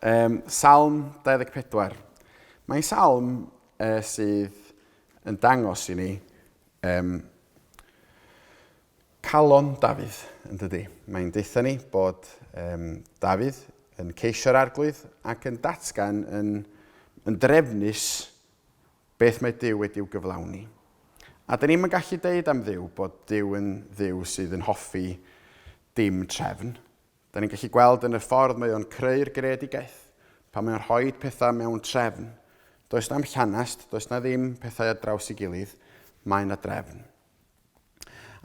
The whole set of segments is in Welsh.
Um, salm 24. Mae'n salm uh, sydd yn dangos i ni um, calon Dafydd, yn dydy. Mae'n deitha ni bod um, Dafydd yn ceisio'r arglwydd ac yn datgan yn, yn drefnus Beth mae Duw wedi'w gyflawni. A dyn ni'm yn gallu deud am Dduw bod Duw yn Dduw sydd yn hoffi dim trefn. Dyn ni'n gallu gweld yn y ffordd mae o'n creu'r greadigaeth, pan mae o'n rhoi pethau mewn trefn. Does na'm llanast, does na ddim pethau ar draws i gilydd, mae na drefn.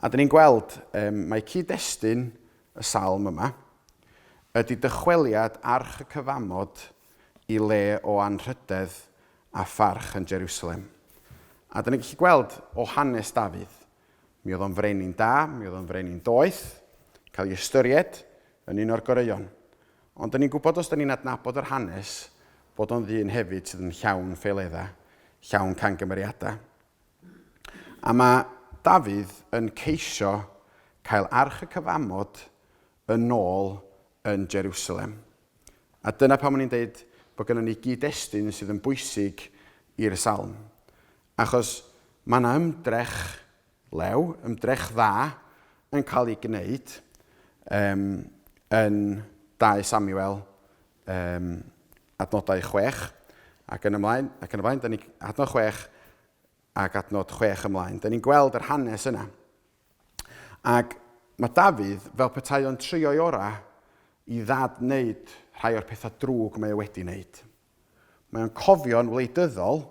A dyn ni'n gweld, um, mae cyd-destun y salm yma ydy dychweliad arch y cyfamod i le o anrhydedd a pharch yn Jerusalem. A dyn ni'n gallu gweld o hanes Dafydd, mi oedd o'n frenin da, mi oedd o'n frenin doeth, cael ei ystyried yn un o'r goreuon. Ond dyn ni'n gwybod os dyn ni'n adnabod yr hanes bod o'n ddyn hefyd sydd yn llawn ffeiledda, llawn cangymeriadau. A mae Dafydd yn ceisio cael arch y cyfamod yn ôl yn Jeriwsalem. A dyna pam o'n i'n deud bod gennym ni gyd-destun sydd yn bwysig i'r salm. Achos mae yna ymdrech lew, ymdrech dda, yn cael ei gwneud um, yn 2 Samuel Yym, adnodau chwech ac yn ymlaen, ac yn y blaen, da ni, adnod chwech ac adnod chwech ymlaen. Da ni'n gweld yr hanes yna. Ac mae Dafydd, fel petai o'n trio'i ora i ddad wneud rhai o'r pethau drwg mae o wedi wneud. Mae o'n cofio'n wleidyddol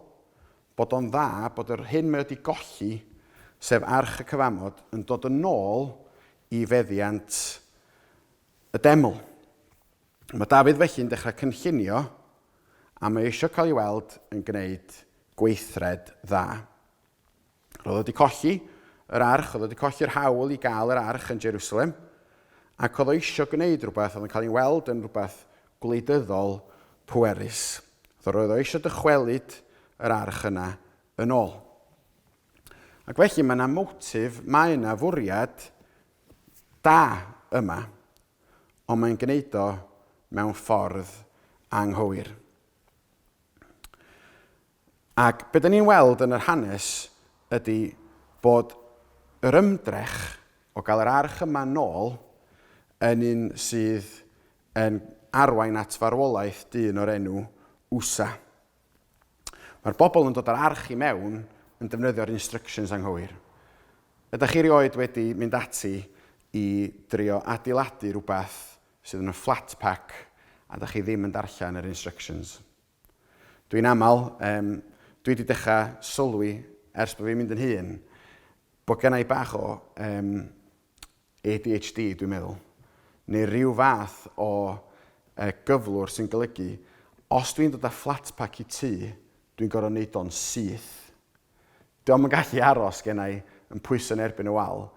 bod o'n dda bod yr hyn mae wedi golli, sef arch y cyfamod, yn dod yn ôl i feddiant y deml. Mae Dafydd felly'n dechrau cynllunio a mae eisiau cael ei weld yn gwneud gweithred dda. Roedd o wedi colli yr arch, oedd o wedi colli'r hawl i gael yr arch yn Jerusalem, ac oedd o eisiau gwneud rhywbeth oedd yn cael ei weld yn rhywbeth gwleidyddol pwerus. Roedd o eisiau dychwelyd yr arch yna yn ôl. Ac felly mae yna motif, mae yna fwriad da yma. ond mae'n gwneud o mewn ffordd anghywir. Ac be da ni'n weld yn yr hanes ydy bod yr ymdrech o gael yr arch yma nôl yn un sydd yn arwain at farwolaeth dyn o'r enw Usa. Mae'r bobl yn dod o'r arch i mewn yn defnyddio'r instructions anghywir. Ydych chi rioed wedi mynd ati i drio adeiladu rhywbeth sydd yn flat pack a dych chi ddim yn darllen yr instructions? Dwi'n aml, um, dwi wedi dechrau sylwi ers bod fi'n mynd yn hun, bod gennau bach o um, ADHD, dwi'n meddwl, neu rhyw fath o uh, gyflwr sy'n golygu, os dwi'n dod â flat pack i tŷ, dwi'n gorfod wneud o'n syth. Diolch yn gallu aros gen i yn pwyso yn erbyn y wal.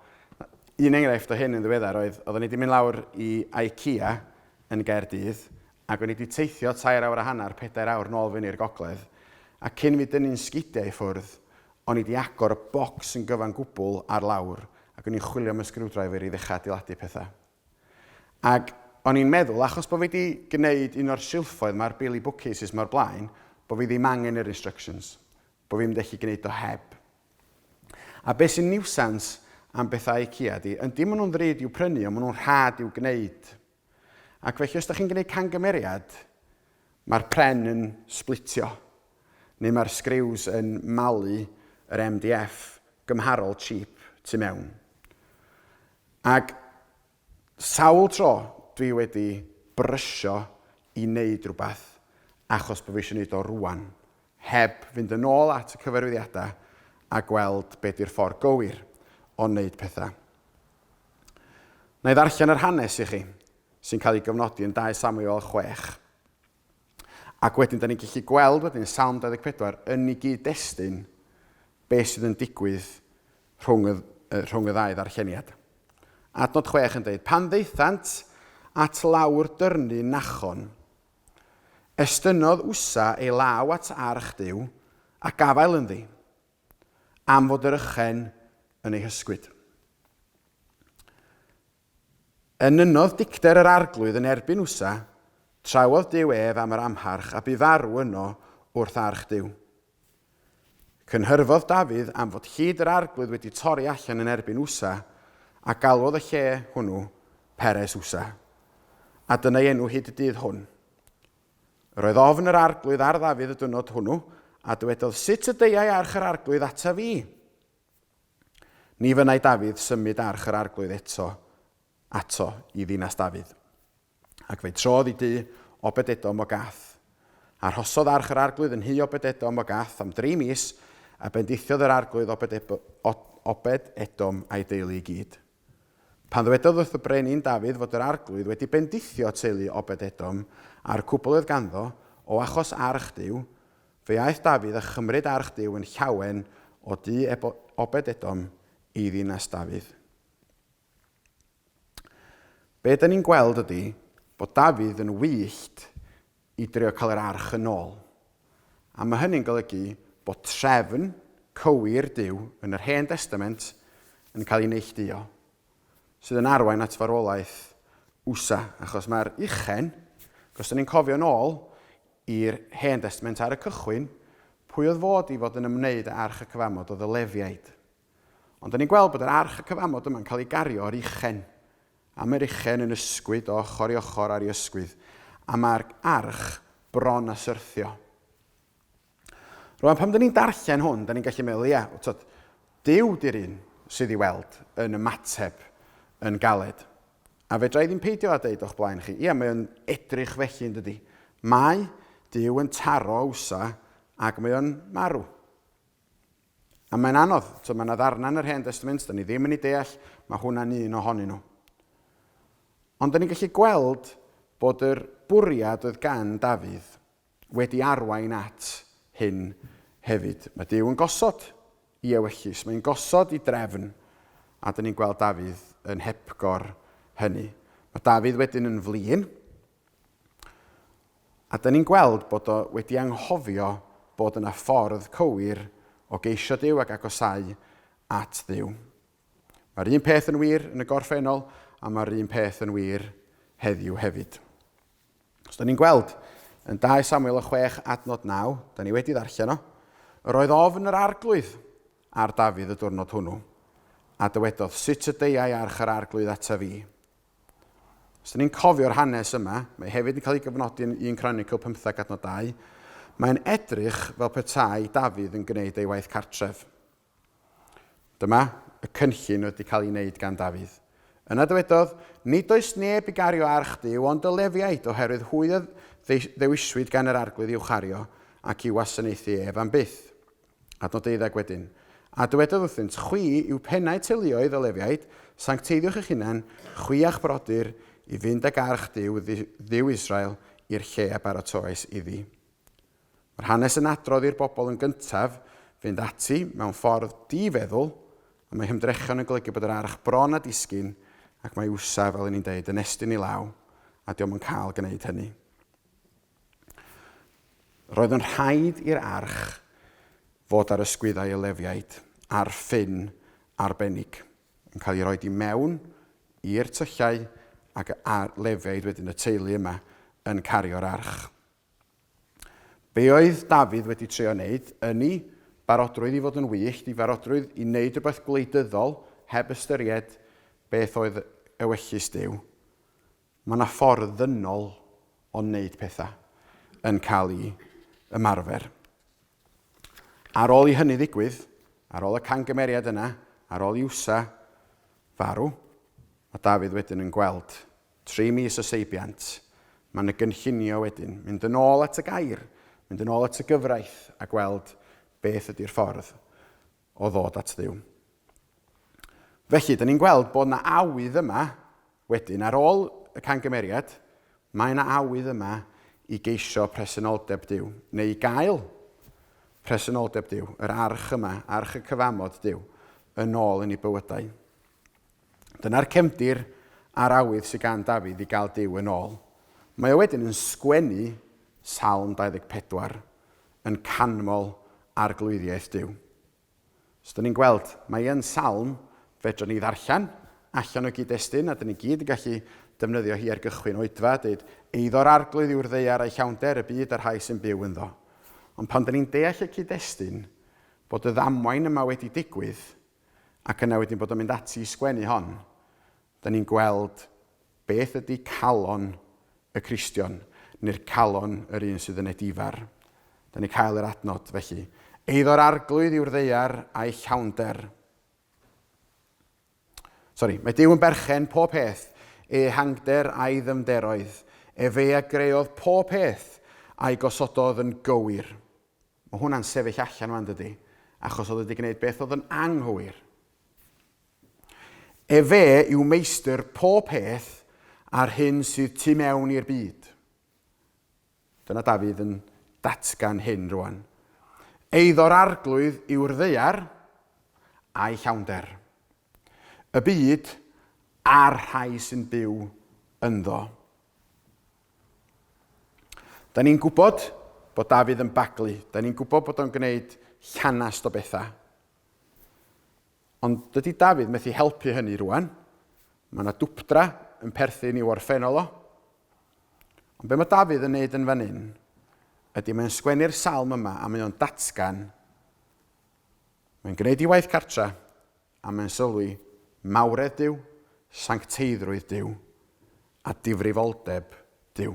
Un enghraifft o hyn yn ddiweddar oedd, oeddwn i wedi mynd lawr i IKEA yn Gaerdydd, ac o'n i wedi teithio tair awr a hanner, pedair awr nôl fyny i'r gogledd, a cyn fi dynnu'n sgidiau i ffwrdd, O'n i 'di agor y bocs yn gyfan gwbl ar lawr ac o'n i'n chwilio am y sgriwdriver i ddechrau adeiladu pethau. Ac o'n i'n meddwl, achos bod fi 'di gwneud un o'r silffoedd 'ma ar Bailey Bookcases 'ma o'r blaen, bod fi ddim angen yr instructions, bod fi'n mynd allu gwneud o heb. A beth sy'n niwsans am bethau IKEA ydi, yndi maen nhw'n ddrud i'w prynu ond maen nhw'n rhad i'w gwneud. Ac felly os da chi'n gwneud cangymeriad, mae'r pren yn splitio, neu mae'r sgriws yn malu yr MDF gymharol cheap tu mewn. Ac sawl tro dwi wedi brysio i wneud rhywbeth achos bod fi eisiau wneud o rwan, heb fynd yn ôl at y cyfarwyddiadau a gweld be di'r ffordd gywir o wneud pethau. Wna i ddarllen yr hanes i chi, sy'n cael ei gyfnodi yn 2 Samuel 6. Ac wedyn, da ni'n gallu gweld wedyn Salm 24 yn ei gyd-destun beth sydd yn digwydd rhwng y, rhwng y ddau ddarlleniad. Adnod 6 yn dweud, pan ddeithant at lawr dyrnu nachon, estynnodd Usa ei law at arch Dyw a gafael ynddi. am fod yr ychen yn ei hysgwyd. Enynnodd dicter yr Arglwydd yn erbyn Usa, trawodd Duw ef am yr amharch, a bu farw yno wrth arch Duw. Cynhyrfodd Dafydd am fod hyd yr Arglwydd wedi torri allan yn erbyn Usa, a galwodd y lle hwnnw Peres Usa. A dyna ei enw hyd y dydd hwn. Yr oedd ofn yr Arglwydd ar Ddafydd y dynod hwnnw, a dywedodd, Sut y deuai arch yr Arglwydd ata fi? Ni fynai Dafydd symud arch yr Arglwydd eto ato i ddinas Dafydd. Ac fe trodd i dŷ Obededom o Gath. A rhosodd arch yr Arglwydd yn nhu Obededom o Gath am dri mis, a bendithiodd yr Arglwydd Obed Edom a'i deulu i gyd. Pan ddwedodd wrth y Brenin Dafydd fod yr Arglwydd wedi bendithio teulu Obed-edom a'r cwbl oedd ganddo, o achos arch Duw, fe aeth Dafydd a chymryd arch Duw yn llawen o du Obed-edom i ddinas Dafydd. Be 'da ni'n gweld ydy bod Dafydd yn wyllt i drio cael yr arch yn ôl. A mae hynny'n golygu bod trefn cywir Duw yn yr Hen Destament yn cael ei neillduo, sydd yn arwain at farwolaeth Usa, achos mae'r uchen, os da ni'n cofio'n ôl i'r Hen Destament ar y cychwyn, pwy oedd fod i fod yn ymwneud â Arch y Cyfamod oedd y Lefiaid. Ond da ni'n gweld bod yr arch y cyfamod yma'n cael ei gario o'r uchen. A mae'r uchen yn ysgwyd o ochr i ochr ar ei ysgwydd, a mae'r arch bron a syrthio. Rwan, pam da ni'n darllen hwn, da ni'n gallu meddwl, ia, tod, Dyw di'r un sydd i weld yn ymateb yn galed. A fe drai ddim peidio â deud o'ch blaen chi, ia, mae'n edrych felly yn dydy. Mae Dyw yn taro awsa ac mae o'n marw. A mae'n anodd, tibod, mae yna ddarnau yn yr Hen Destament, da ni ddim yn ei deall, mae hwnna'n un ohonyn nhw. Ond da ni'n gallu gweld bod yr bwriad oedd gan Dafydd wedi arwain at hyn hefyd. Mae Dyw yn gosod i ewyllys, mae'n gosod i drefn, a da ni'n gweld Dafydd yn hepgor hynny. Mae Dafydd wedyn yn flin, A dyn ni'n gweld bod o wedi anghofio bod yna ffordd cywir o geisio Duw ac agosáu at Dduw. Mae'r un peth yn wir yn y gorffennol a mae'r un peth yn wir heddiw hefyd. Os dyn ni'n gweld yn 2 Samuel o 6 adnod 9, da ni wedi ddarllen o, yr oedd ofn yr arglwydd ar Dafydd y diwrnod hwnnw, a dywedodd, sut y deiau arch yr arglwydd ata fi? Os 'da ni'n cofio'r hanes yma, mae hefyd yn cael ei gofnodi yn 1 Cronicl 15 adnod 2, mae'n edrych fel petai Dafydd yn gwneud ei waith cartref. Dyma, y cynllun wedi cael ei wneud gan Dafydd. Yna dywedodd, Nid oes neb i gario arch Duw ond y Lefiaid, oherwydd hwy a ddewiswyd gan yr arglwydd i'w chario ac i'w wasanaethu ef am byth. Adnod deuddeg wedyn, A dywedodd wrthynt, Chwi yw pennau teuluoedd y Lefiaid, sancteiddiwch eich hunain, chwi a'ch brodyr, i fynd ag arch Duw, Dduw Israel, i'r lle a baratoes iddi. Mae'r hanes yn adrodd i'r bobl yn gyntaf fynd ati mewn ffordd di-feddwl, a mae hymdrechion yn golygu bod yr arch bron a disgyn, ac mae Usa, fel yn ni'n deud, yn estyn i law, a diom yn cael gwneud hynny. Roedd yn rhaid i'r arch fod ar ysgwyddau y Lefiaid ar ffyn arbennig, yn cael ei roi i mewn i'r tyllau ac y Lefiaid wedyn, y teulu yma, yn cario'r arch. Be oedd Dafydd wedi trio wneud? Yn ei barodrwydd i fod yn wyllt, ei farodrwydd i wneud rhywbeth gwleidyddol heb ystyried beth oedd ewyllys Duw, Mae yna ffordd ddynol o wneud pethau yn cael ei ymarfer. Ar ôl i hynny ddigwydd, ar ôl y cangymeriad yna, ar ôl i Usa farw, mae Dafydd wedyn yn gweld tri mis o seibiant. Mae yna gynllunio wedyn, mynd yn ôl at y gair, mynd yn ôl at y gyfraith a gweld beth ydy'r ffordd o ddod at Dduw. Felly, dyn ni'n gweld bod na awydd yma, wedyn, ar ôl y cangymeriad, mae yna awydd yma i geisio presenoldeb Dyw, neu i gael presenoldeb Dyw, yr arch yma, arch y cyfamod Dyw, yn ôl yn ei bywydau. Dyna'r cefndir a'r awydd sydd gan Dafydd i gael Dyw yn ôl. Mae o wedyn yn sgwennu Salm 24, yn canmol Arglwyddiaeth Duw. Os ydyn ni'n gweld mai yn salm fedrwn ni ddarllen allan o gyd-destun, a dyn ni gyd yn gallu defnyddio hi ar gychwyn oedfa, deud, Eiddo'r Arglwydd yw'r ddaear a'i llawnder, y byd a'r rhai sy'n byw ynddo. Ond pan dyn ni'n deall y cyd-destun, bod y ddamwain yma wedi digwydd, ac yna wedyn bod o'n mynd ati i sgwennu hon, Da ni'n gweld beth ydy calon y Cristion, neu'r calon yr un sydd yn edifar. Da ni'n cael yr adnod, felly. Eiddo'r arglwydd yw'r ddeiar a'i llawnder. Sori, mae Dyw yn berchen pob peth, e hangder a'i ddyfnderoedd, e fe a greodd pob peth a'i gosododd yn gywir. Mae hwnna'n sefyll allan yma, dydy, achos oedd wedi gwneud beth oedd yn anghywir. Efe yw meistr pob peth a'r hyn sydd tu mewn i'r byd. Dyna Dafydd yn datgan hyn rwan. Eiddo'r arglwydd yw'r ddaear a'i llawnder. Y byd a'r rhai sy'n byw ynddo. Da ni'n gwybod bod Dafydd yn baglu. Da ni'n gwybod bod o'n gwneud llanast o bethau. Ond dydy Dafydd methu helpu hynny rwan. Mae yna dwpdra yn perthyn i'w orffennol o. Ond be mae Dafydd yn neud yn fan hyn ydy mae'n sgwennu'r salm yma a mae o'n datgan mae'n gwneud i waith cartra a mae'n sylwi mawredd Dyw, sancteiddrwydd Dyw a difrifoldeb Dyw.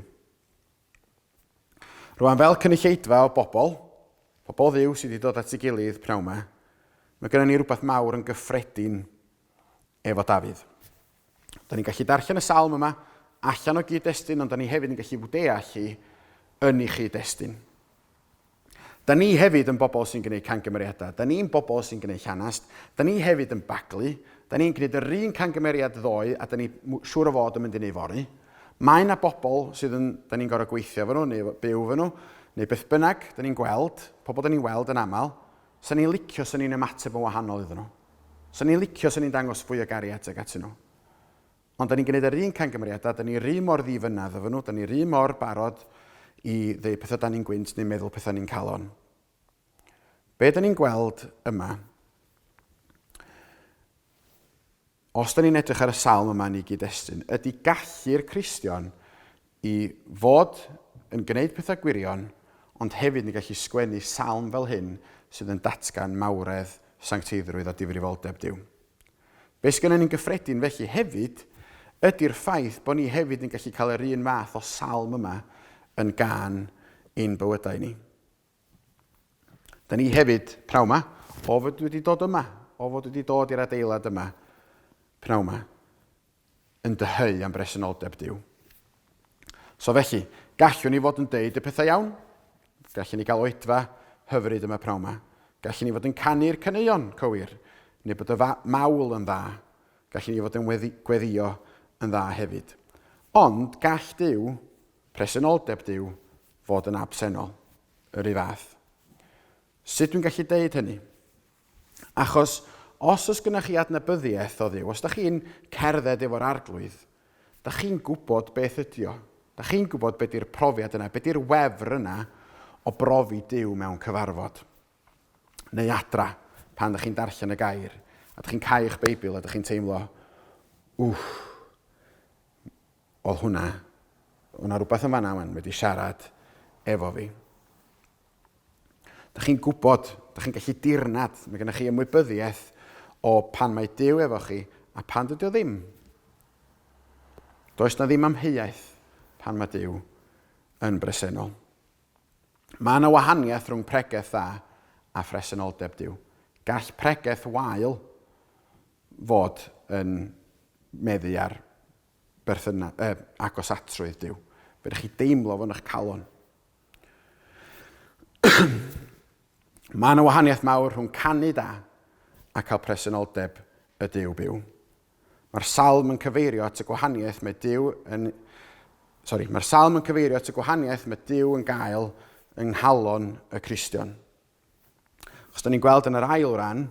Rwan fel cynulleidfa o bobl, pobl dduw sydd wedi dod at ei gilydd pnawn ma, mae gennym ni rhywbeth mawr yn gyffredin efo Dafydd. Da ni'n gallu darllen y salm yma allan o gyd-destun, ond da ni hefyd yn gallu fwdeall hi yn ei chyd-destun. Da ni hefyd yn bobl sy'n gwneud cangymeriadau. Da ni'n bobl sy'n gwneud llanast. Da ni hefyd yn baglu. Da ni'n gwneud yr un cangymeriad ddoe a da ni siŵr o fod yn mynd i wneud fory. Mae na bobl sydd yn, da ni'n gorau gweithio fy nhw neu byw fy nhw, neu beth bynnag, da ni'n gweld, pobl da ni'n weld yn aml, sa ni'n licio sa ni'n ymateb yn wahanol iddyn nhw. Sa ni'n licio sa ni'n dangos fwy o gariad tuag atyn nhw. Ond 'da ni'n gwneud yr un camgymeriadau, 'da ni'r un mor ddi-fynnedd efo nhw, 'da ni'r un mor barod i ddeu pethau 'da ni'n gwynt neu meddwl pethau ni'n calon. Be 'da ni'n gweld yma? Os 'da ni'n edrych ar y salm yma yn ei gyd-destun, ydy gallu'r Cristion I fod yn gwneud pethau gwirion, ond hefyd yn gallu sgwennu salm fel hyn sydd yn datgan mawredd, sancteiddrwydd a difrifoldeb Duw. Be sgynnon ni'n gyffredin felly hefyd ydi'r ffaith bod ni hefyd yn gallu cael yr un fath o salm yma yn gân i'n bywydau ni. Da ni hefyd, pnawn ma, o fod wedi dod yma, o fod wedi dod i'r adeilad yma, pnawn ma, yn dyheu am bresenoldeb Dyw. So felly, gallwn ni fod yn deud y pethau iawn, gallwn ni gael oedfa hyfryd yma pnawn ma, gallwn ni fod yn canu'r caneuon cywir, neu bod y mawl yn dda, gallwn ni fod yn gweddio yn dda hefyd. Ond gall Dyw Presenoldeb dyw fod yn absennol y rhy fath. Sut dwi'n gallu deud hynny? Achos os oes gynnech chi adnabyddiaeth o ddyw, os da chi'n cerdded efo'r arglwydd, da chi'n gwybod beth ydy o. Da chi'n gwybod beth di'r profiad yna, beth di'r wefr yna o brofi dyw mewn cyfarfod. Neu adra, pan da chi'n darllen y gair, a da chi'n cael eich Beibl a da chi'n teimlo, wff, Oedd hwnna, oedd 'na rywbeth yn fan'na wan wedi siarad efo fi. Da chi'n gwybod, da chi'n gallu dirnad, mae gennych chi ymwybyddiaeth o pan mae Dyw efo chi a pan dydy o ddim. Does na ddim amheuaeth pan mae Dyw yn bresennol. Mae yna wahaniaeth rhwng pregeth dda a phresenoldeb Dyw. Gall pregeth wael fod yn meddu ar berthyna, eh, agosatrwydd Duw. Fedrwch chi deimlo fo'n eich calon. Mae yna wahaniaeth mawr rhwng canu da a cael presenoldeb y Dyw byw. Mae'r salm yn cyfeirio at y gwahaniaeth mae Dyw yn... Sorry, mae'r salm yn cyfeirio at y gwahaniaeth mae Dyw yn gael yng nghalon y Cristion. Os da ni'n gweld yn yr ail ran,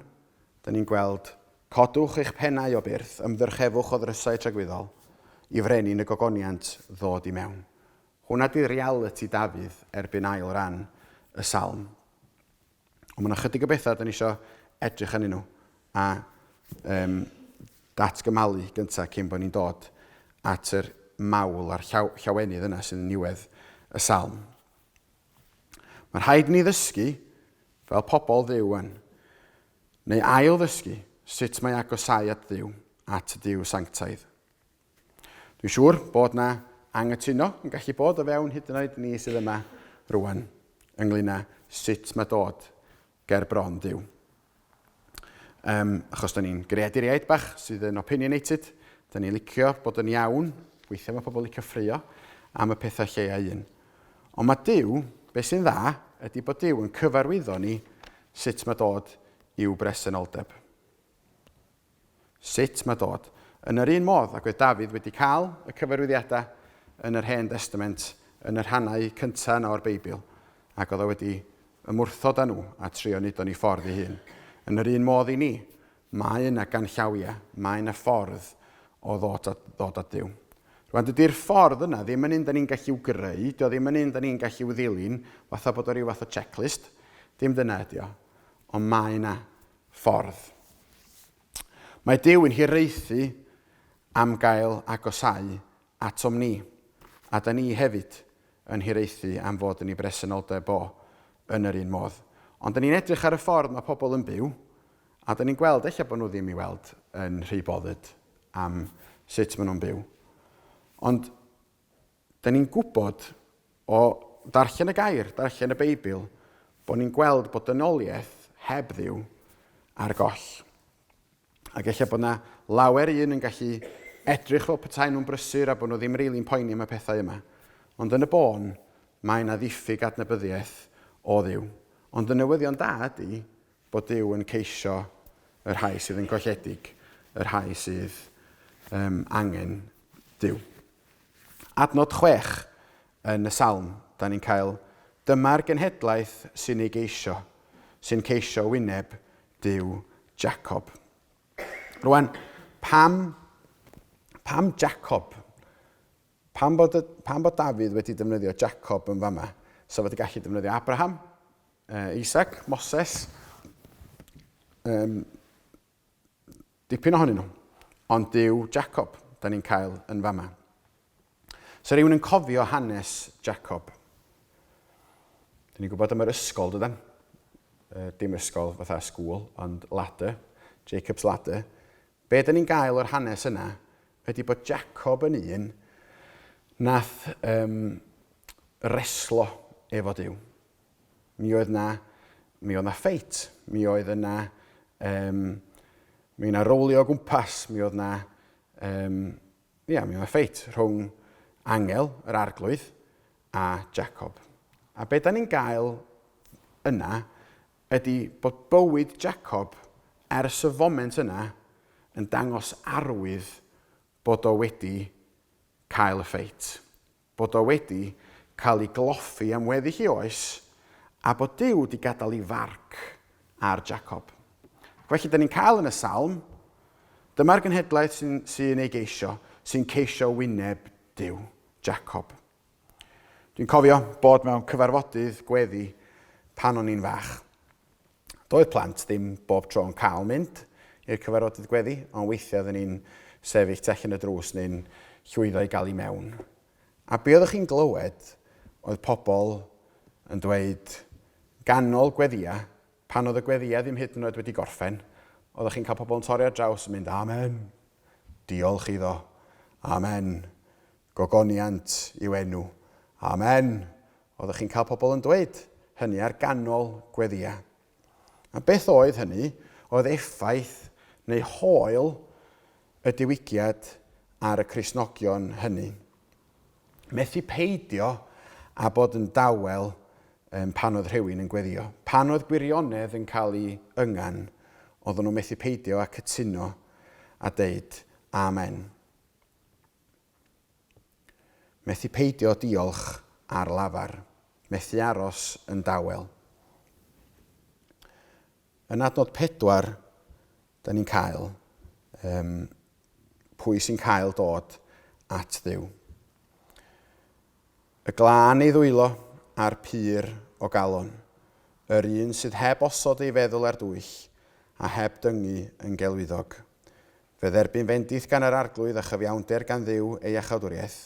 da ni'n gweld codwch eich pennau o byrth, ymddyrchefwch o ddrysau tragwyddol, i frenin y gogoniant ddod i mewn. Hwna di reality Dafydd erbyn ail ran y salm. Ond mae'n ychydig o bethau da ni eisiau edrych yn nhw a um, datgymalu gyntaf cyn bod ni'n dod at yr mawl a'r llaw, llawenydd yna sy'n niwedd y salm. Mae rhaid ni ddysgu fel pobl ddiw yn, neu ail ddysgu sut mae agosau at ddiw, at ddiw sanctaidd. Dwi'n siŵr bod na angytuno yn gallu bod o fewn hyd yn oed ni sydd yma rwan, ynglyn â sut mae dod ger bron Duw. Yym, achos da ni'n greaduriaid bach sydd yn opinionated, da ni'n licio bod yn iawn, weithiau mae pobl licio ffrio am y pethau lleia un. Ond mae Duw, beth sy'n dda, ydy bod Duw yn cyfarwyddo ni sut mae dod i'w bresenoldeb. Sut mae dod? Yn yr un modd ag oedd Dafydd wedi cael y cyfarwyddiadau yn yr Hen Destament yn y rhannau cyntaf yna o'r Beibl, ac oedd o wedi ymwrthod â nhw a trio wneud o'n ei ffordd ei hun. Yn yr un modd i ni, mae yna ganllawiau, mae yna ffordd o ddod at, ddod at Duw. Rwan, dydy'r ffordd yna ddim yn un da ni'n gallu i'w greu, dio ddim yn un da ni'n gallu i'w ddilyn, fatha bod o rhyw fath o checklist. Dim dyna ydi o. Ond mae yna ffordd. Mae Duw yn hiraethu am gael agosáu atom ni, a da ni hefyd yn hiraethu am fod yn ei bresenoldeb o yn yr un modd. Ond da ni'n edrych ar y ffordd mae pobl yn byw, a da ni'n gweld eich bod nhw ddim i weld yn rhy boddyd am sut maen nhw'n byw. Ond Da ni'n gwybod o ddarllen y gair, darllen y Beibl, bod ni'n gweld bod dynoliaeth heb ddiw ar goll. Ac efallai bod yna lawer un yn gallu edrych fel petai nhw'n brysur a bod nhw ddim rili'n poeni am y pethau yma. Ond yn y bôn, mae yna ddiffyg adnabyddiaeth o ddiw. Ond y newyddion da ydy bod Dyw yn ceisio y rhai sydd yn golledig, y rhai sydd um, angen Dyw. Adnod chwech yn y Salm, dan ni'n cael, Dyma'r genhedlaeth sy'n ei geisio, sy'n ceisio wyneb Duw Jacob. Rwan, pam, pam Jacob? Pam bod, y, pam bod Dafydd wedi defnyddio Jacob yn fama? So fod y gallu defnyddio Abraham, uh, Isaac, Moses, um, Dipyn ohonyn nhw. Ond dyw Jacob, da ni'n cael yn fama. Sa rhywun yn cofio hanes Jacob? Dyn ni'n gwybod am yr ysgol, dydan? Uh, dim ysgol fatha school, ond ladder, Jacob's ladder. Be dyn ni'n gael o'r hanes yna ydy bod Jacob yn un nath um, reslo efo Dyw. Mi oedd 'na... mi oedd 'na ffeit. Mi oedd yna... Yym... Mi oedd 'na rowlio o gwmpas. Mi oedd 'na... Yym... Ia, mi oedd 'na ffeit rhwng Angel, yr Arglwydd, a Jacob. A be' 'dan ni'n gael yna ydy bod bywyd Jacob ers y foment yna yn dangos arwydd bod o wedi cael y ffeit. bod o wedi cael ei gloffi am weddi hi oes, a bod Duw wedi gadael ei farc ar Jacob. Felly, da ni'n cael yn y salm, dyma'r genhedlaeth sy'n sy ei geisio, sy'n ceisio wyneb Duw, Jacob. Dwi'n cofio bod mewn cyfarfodydd gweddi pan o'n i'n fach. Doedd plant ddim bob tro yn cael mynd i'r cyfarfodydd gweddi, ond weithiau oedden ni'n sefyll tu allan y drws neu'n llwyddo i gael i mewn. A be oeddech chi'n glywed oedd pobl yn dweud ganol gweddïau, pan oedd y gweddïau ddim hyd yn oed wedi gorffen, oeddech chi'n cael pobl yn torri ar draws yn mynd, Amen! Diolch iddo! Amen! Gogoniant yw enw. Amen! Oeddech chi'n cael pobl yn dweud hynny ar ganol gweddiau. A beth oedd hynny? Oedd effaith neu hoel y diwygiad ar y Cristnogion hynny. Methu peidio a bod yn dawel um, pan oedd rhywun yn gweddio. Pan oedd gwirionedd yn cael ei yngan, oedden nhw methu peidio a cytuno a deud Amen. Methu peidio diolch ar lafar. Methu aros yn dawel. Yn adnod pedwar, da ni'n cael um, pwy sy'n cael dod at ddiw. Y glân ei ddwylo a'r pyr o galon, yr un sydd heb osod ei feddwl ar dwyll a heb dyngu yn gelwyddog. Fe dderbyn fendith gan yr Arglwydd a chyfiawnder gan Dduw ei iachawdwriaeth.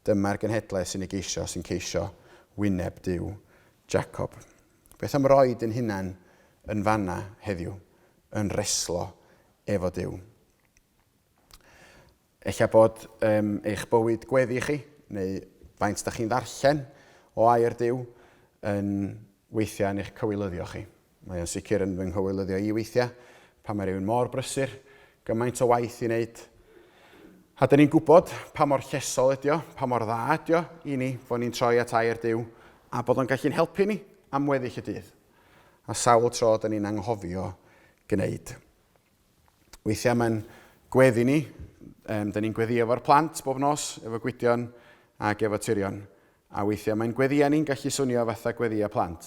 Dyma'r genhedlaeth sy'n ei geisio, sy'n ceisio wyneb Duw Jacob. Beth am roi dyn hunan yn fanna heddiw, yn reslo efo Duw? Ella bod um, eich bywyd gweddi chi, neu faint da chi'n ddarllen o air Duw, yn weithiau yn eich cywilyddio chi. Mae o'n sicr yn fy nghywilyddeo i weithiau, pan mae rhywun mor brysur, gymaint o waith i wneud. A dyn ni'n gwybod pa mor llesol ydio, pa mor dda ydio i ni fod ni'n troi at air Duw, a bod o'n gallu'n helpu ni am weddill y dydd. A sawl tro dyn ni'n anghofio gwneud Weithiau mae'n gweddi ni. Um, da ni'n gweddi efo'r plant bob nos, efo gwydion ac efo tirion. A weithiau mae'n gweddi ni'n gallu swnio fatha gweddi a plant.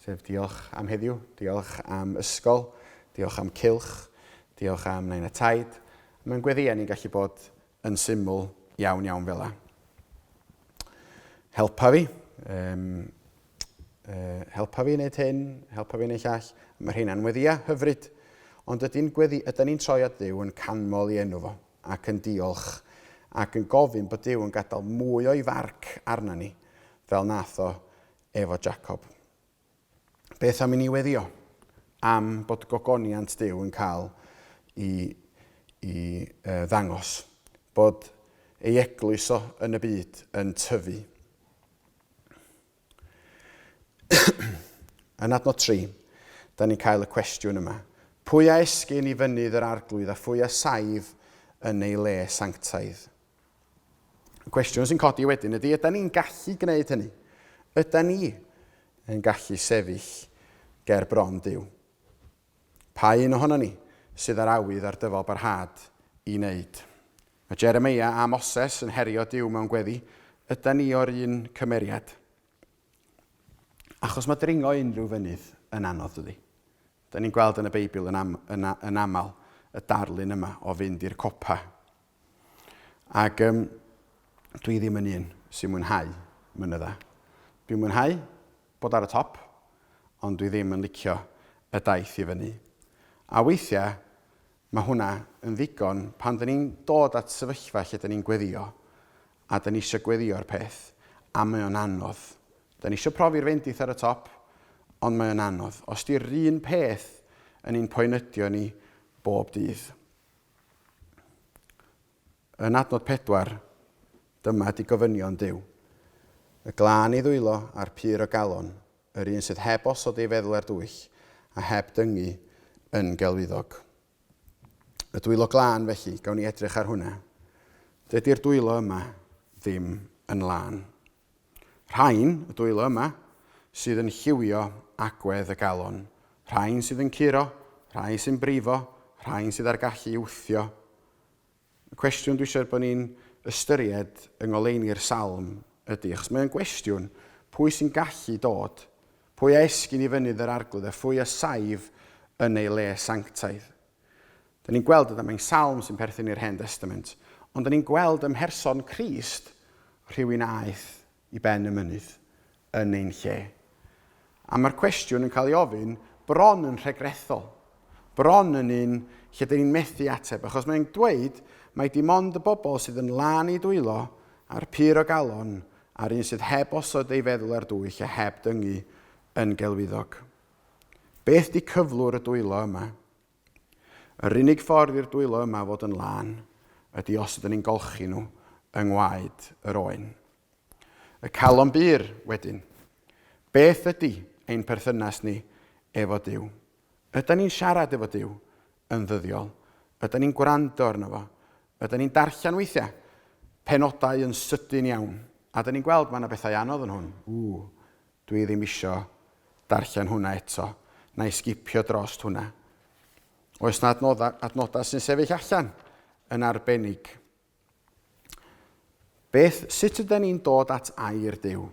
Sef diolch am heddiw, diolch am ysgol, diolch am cilch, diolch am nain a taid. Mae'n gweddi ni'n gallu bod yn syml iawn iawn fela. Helpa fi, um, uh, helpa fi wneud hyn, helpa fi wneud llall. Mae rhai'n weddia hyfryd, ond ydy'n gweddi, ydy'n ni'n troi at Dduw yn canmol i enw fo ac yn diolch ac yn gofyn bod Duw yn gadael mwy o'i farc arna ni fel nath o efo Jacob. Beth am i ni weddio am bod gogoniant Duw yn cael i, i uh, ddangos, bod ei eglwys o yn y byd yn tyfu. yn adnod 3, da ni'n cael y cwestiwn yma. Pwy a esgyn i fynydd yr arglwydd a phwy a saif yn ei le sanctaidd? Cwestiwn sy'n codi wedyn ydy, ydy ni'n gallu gwneud hynny? Ydy ni yn gallu sefyll ger bron Dyw? Pa un ohono ni sydd ar awydd ar dyfal barhad i wneud? Mae Jeremia a Moses yn herio Dyw mewn gweddi, ydy ni o'r un cymeriad? Achos mae dringo unrhyw fynydd yn anodd dydy. Da ni'n gweld yn y Beibl yn, am, yn, yn aml y darlun yma o fynd i'r copa Ac um, dwi ddim yn un sy'n mwynhau mynydda. Dwi'n mwynhau bod ar y top, ond dwi ddim yn licio y daith i fyny. A weithiau, mae hwnna yn ddigon pan dyn ni'n dod at sefyllfa lle dyn ni'n gweddio, a dyn ni eisiau gweddio'r peth, a mae o'n anodd. Dyn ni eisiau profi'r fendith ar y top, ond mae o'n anodd. Os di'r un peth yn ein poenydio ni bob dydd. Yn adnod 4, dyma ydy gofynion Duw. Y glân i ddwylo a'r pur o galon, yr un sydd heb osod ei feddwl ar dwyll, a heb dyngu yn gelwyddog. Y dwylo glân, felly, gawn ni edrych ar hwnna. Dydy'r dwylo yma ddim yn lân. Rhain, y dwylo yma, sydd yn lliwio agwedd y galon. Rhain sydd yn curo, rhai sy'n brifo, rhain sydd â'r gallu i wthio. Y cwestiwn dwi eisiau bod ni'n ystyried yng ngoleuni'r salm ydy, achos mae'n gwestiwn, pwy sy'n gallu dod, pwy a esgyn i fynydd yr arglwydd a phwy a saif yn ei le sanctaidd. Da ni'n gweld y damau'n salm sy'n perthyn i'r Hen Destament, ond da ni'n gweld ym mherson Crist rhywun a aeth i ben y mynydd yn ein lle. A mae'r cwestiwn yn cael ei ofyn bron yn rhegrethol, bron yn un lle da ni'n methu ateb, achos mae'n dweud mai dim ond y bobl sydd yn lân i dwylo a'r pur o galon a'r un sydd heb osod ei feddwl ar dwyll a heb dyngu yn gelwyddog. Beth di cyflwr y dwylo yma? Yr unig ffordd i'r dwylo yma fod yn lân ydi os ydyn ni'n golchi nhw yng ngwaed yr oen. Y calon bur, wedyn. Beth ydi ein perthynas ni efo Duw? Ydan ni'n siarad efo Duw yn ddyddiol? Ydan ni'n gwrando arno fo? Ydan ni'n darllen weithiau penodau yn sydyn iawn? A dyn ni'n gweld mae yna bethau anodd yn hwn. Ww, Dwi ddim isio darllen hwnna eto. Na'i sgipio drost hwnna. Oes 'na adnoddau, adnodau sy'n sefyll allan yn arbennig? Beth, sut ydyn ni'n dod at air Duw?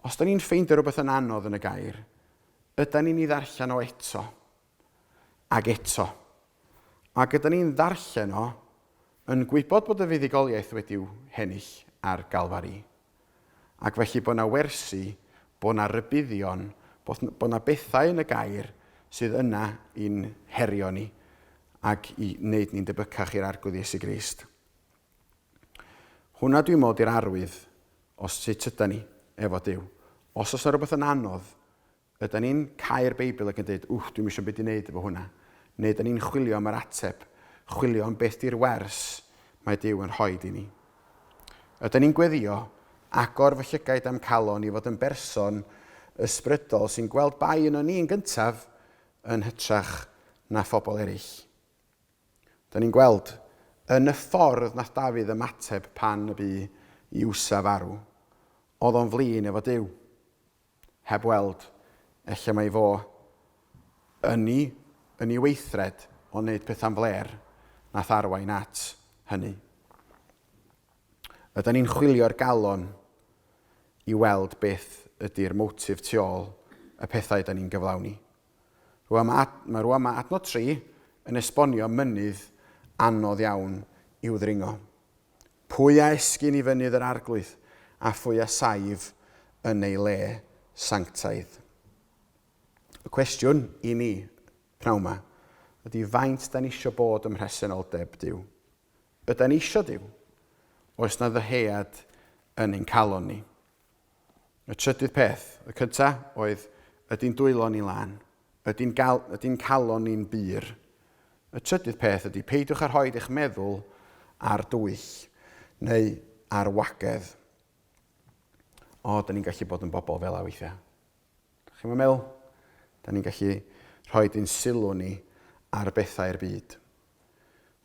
Os da ni'n ffeindio rhywbeth yn anodd yn y gair, ydyn ni'n ei ddarllen o eto? Ac eto. Ac ydyn ni'n ddarllen o, yn gwybod bod y fuddugoliaeth wedi'w hennill ar Galfari. Ac felly bod yna wersi, bod yna rybuddion, bod bod yna bethau yn y Gair sydd yna i'n herio ni ac i wneud ni'n debycach i'r Arglwydd Iesu Grist. Hwnna dwi'n meddwl di'r arwydd o sut yda ni efo Duw. Os oes yna rhywbeth yn anodd Ydan ni'n cau'r Beibl ac yn deud, 'Wff, dwi'm isio 'm byd i wneud efo hwnna'? Neu ydan ni'n chwilio am yr ateb, chwilio am beth 'di'r wers mae Duw yn rhoi i ni? Ydan ni'n gweddio, 'Agor fy llygaid a'm calon i fod yn berson ysbrydol sy'n gweld bai yno ni yn gyntaf yn hytrach na phobl eraill'? Ydan ni'n gweld, yn y ffordd nath Dafydd ymateb pan y bu i Usa farw, oedd o'n flin efo Duw. Heb weld. Ella mai fo yn i, yn i weithred o wneud pethau'n flêr, nath arwain at hynny. Ydan ni'n chwilio'r galon i weld beth ydi'r motif tu ôl y pethau ydan ni'n gyflawni? Rwan mae ad, mae rwan mae adnod 3 yn esbonio mynydd anodd iawn i'w ddringo. Pwy a esgyn i fynydd yr Arglwydd, a phwy a saif yn ei le sanctaidd? Y cwestiwn i ni, pnawn ma, ydy faint da ni eisiau bod ym mhresenoldeb Dyw? Yda ni eisiau Dyw? Oes na ddyhead yn ein calon ni? Y trydydd peth, y cynta, oedd, ydy'n dwylo ni lan? Ydy'n gal, ydy'n calon ni'n bur? Y trydydd peth ydy, peidiwch â rhoi eich meddwl ar dwyll neu ar wagedd. O, da ni'n gallu bod yn bobl fel a weithiau. Chi'n meddwl? Da ni'n gallu rhoi dyn sylw ni ar bethau'r byd.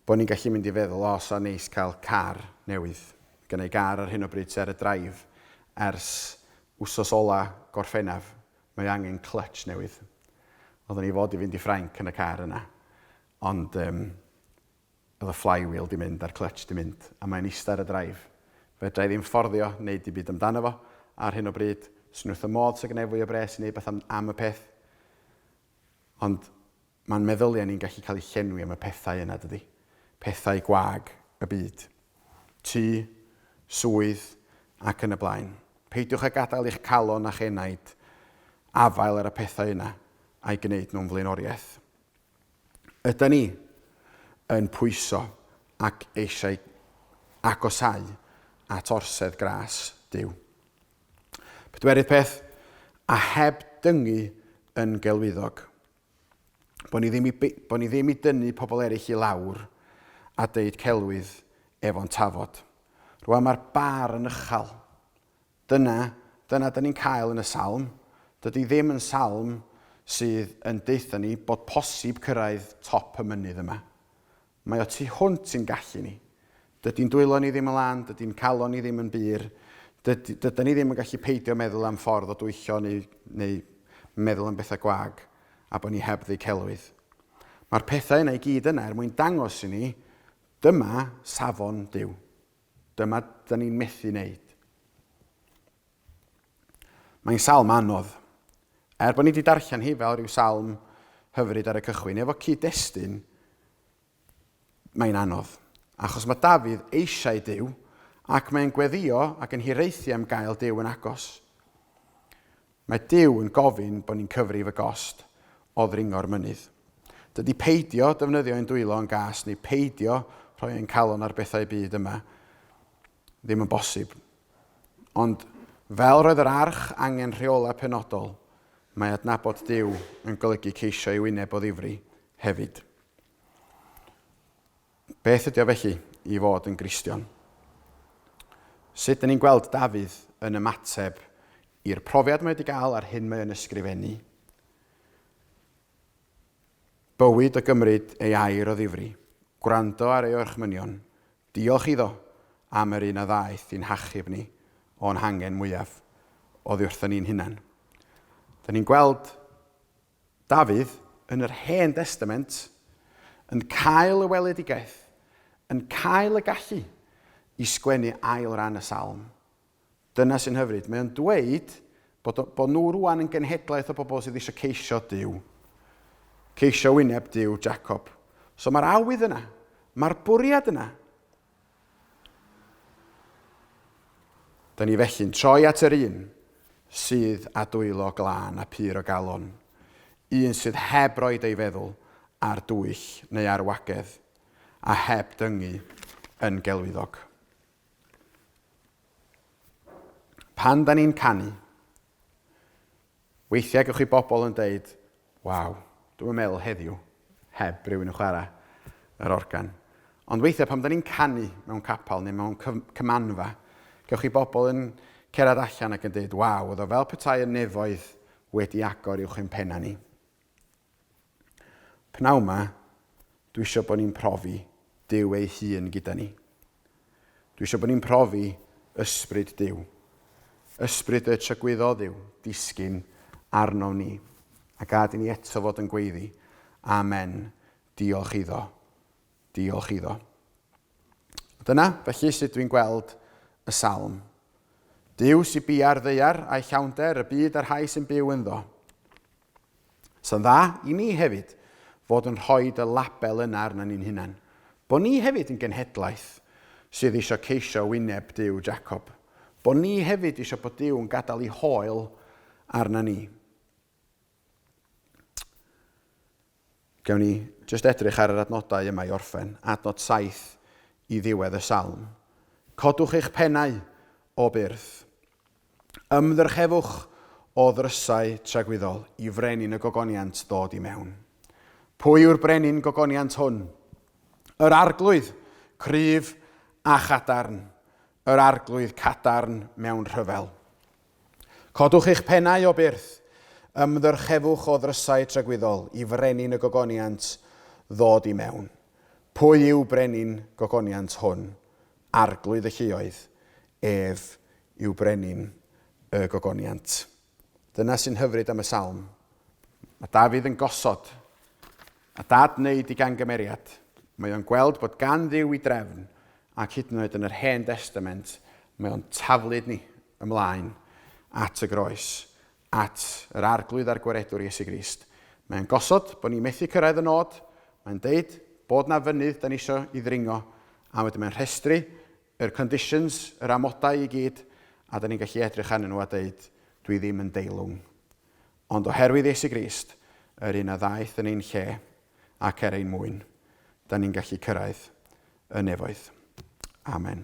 Bo ni'n gallu mynd i feddwl o sa neis cael car newydd. Gynna i gar ar hyn o bryd sy ar y draif ers wsos ola Gorffennaf, mae o angen clutch newydd. Odda ni fod i fynd i Ffrainc yn y car yna ond yym oedd y flywheel di mynd a'r clutch di mynd a mae'n ista ar y draif. Fedra i ddim fforddio neud dim byd amdano fo ar hyn o bryd, swn i wrth fy modd sa gynna i fwy o bres i neud beth am y peth ond Mae'n meddyliau ni'n gallu cael eu llenwi am y pethau yna, dydi? Pethau gwag y byd. Tŷ, swydd, ac yn y blaen. Peidiwch â gadael i'ch calon a'ch enaid afael ar y pethau yna a'i gwneud nhw'n flaenoriaeth. Yda ni yn pwyso ac eisiau agosau at orsedd gras Duw? Pedwerydd peth, a heb dyngu yn gelwyddog, Bod ni ddim i, bod ni ddim i dynnu pobl eraill i lawr a deud celwydd efo'n tafod. Rwan mae'r bar yn ychal. Dyna, dyna dyn ni'n cael yn y salm. Dydy ddim yn salm sydd yn deutha ni bod posib cyrraedd top y mynydd yma. Mae o tu hwnt i'n gallu ni. Dydy'n dwylo ni ddim yn lân, dydy'n calon ni ddim yn bur, dydy, dydan ni ddim yn gallu peidio meddwl am ffordd o dwyllo neu, neu meddwl am bethau gwag a bod ni heb ddu celwydd. Mae'r pethau yna i gyd yna er mwyn dangos i ni, dyma safon Duw. Dyma da ni'n methu wneud. Mae'n salm anodd. Er bod ni wedi darllen hi fel rhyw salm hyfryd ar y cychwyn, efo cyd-destun, mae'n anodd. Achos mae Dafydd eisiau Duw, ac mae'n gweddio ac yn hiraethu am gael Duw yn agos. Mae Duw yn gofyn bod ni'n cyfrif y gost o ddringo'r mynydd. Dydy peidio defnyddio ein dwylo yn gas neu peidio rhoi ein calon ar bethau byd yma ddim yn bosib. Ond, fel roedd yr arch angen rheolau penodol, mae adnabod Duw yn golygu ceisio ei wyneb o ddifri hefyd. Beth ydy o felly i fod yn Gristion? Sut dyn ni'n gweld Dafydd yn ymateb i'r profiad mae wedi gael a'r hyn mae yn ysgrifennu? Bywyd o gymryd ei air o ddifri, gwrando ar ei orchmynion, Diolch iddo am yr un a ddaeth i'n hachub ni o'n hangen mwyaf oddi wrthon ni'n hunain. Dyn ni'n gweld Dafydd yn yr Hen Destament yn cael y weledigaeth, yn cael y gallu i sgwennu ail ran y Salm, Dyna sy'n hyfryd. Mae o'n dweud bod o, bod nhw rwan yn genhedlaeth o bobl sydd eisiau ceisio Duw. Ceisio wyneb Duw, Jacob. So mae'r awydd yna. Mae'r bwriad yna. Dyna ni felly'n troi at yr un sydd a dwylo glân a pur o galon. Un sydd heb roed ei feddwl ar dwyll neu ar wagedd, a heb dyngu yn gelwyddog. Pan da ni'n canu, weithiau gwych chi bobl yn deud, waw, dwi'n meddwl heddiw, heb rhywun yn chwarae yr organ. Ond weithiau pan da ni'n canu mewn capel neu mewn cymanfa, gwych chi bobl yn cerdded allan ac yn deud, waw, oedd o fel petai y nefoedd wedi agor i'w chympenna ni. Pnawn 'ma, dwi eisiau bod ni'n profi Duw ei hun gyda ni. Dwi eisiau bod ni'n profi ysbryd Duw. Ysbryd y trygwyddodd yw disgyn arnom ni. A gad i ni eto fod yn gweiddi, Amen, diolch iddo, diolch iddo. Dyna, felly, sut dwi'n gweld y salm. Dyw sy'n bia'r ddeiar a'i llawnder, y byd a'r rhai sy'n byw ynddo. Sa'n dda i ni hefyd fod yn rhoi y label yna arna ni'n hunan, bo ni hefyd yn genhedlaeth sydd isio ceisio wyneb Duw Jacob, bo ni hefyd isio bod Duw yn gadael i hoel arna ni. Gawn ni jyst edrych ar yr adnodau yma i orffen, adnod saith i ddiwedd y salm. Codwch eich pennau, o byrth. Ymddrchefwch o ddrysau tragwyddol i frenin y gogoniant ddod i mewn. Pwy yw'r brenin gogoniant hwn? Yr arglwydd, cryf a chadarn, yr arglwydd cadarn mewn rhyfel. Codwch eich pennau o byrth, ymddyrchefwch o ddrysau tragwyddol i frenin y gogoniant ddod i mewn. Pwy yw brenin gogoniant hwn? Arglwydd y lluoedd ef yw brenin y gogoniant. Dyna sy'n hyfryd am y salm. Mae Dafydd yn gosod a dad wneud i gangymeriad. Mae o'n gweld bod gan Dduw i drefn ac hyd yn oed yn yr Hen Destament mae o'n taflud ni ymlaen at y groes, at yr Arglwydd a'r Gwaredwr Iesu Grist. Mae o'n gosod bod ni methu cyrraedd y nod, mae'n deud bod na fynydd da ni isio i ddringo a wedyn mae'n rhestru Yr conditions, yr amodau i gyd, a dan ni'n gallu edrych arnyn nhw a deud, dwi ddim yn deilwng. Ond oherwydd Iesu Grist, yr un a ddaeth yn ein lle ac er ein mwyn, dan ni'n gallu cyrraedd y nefoedd. Amen.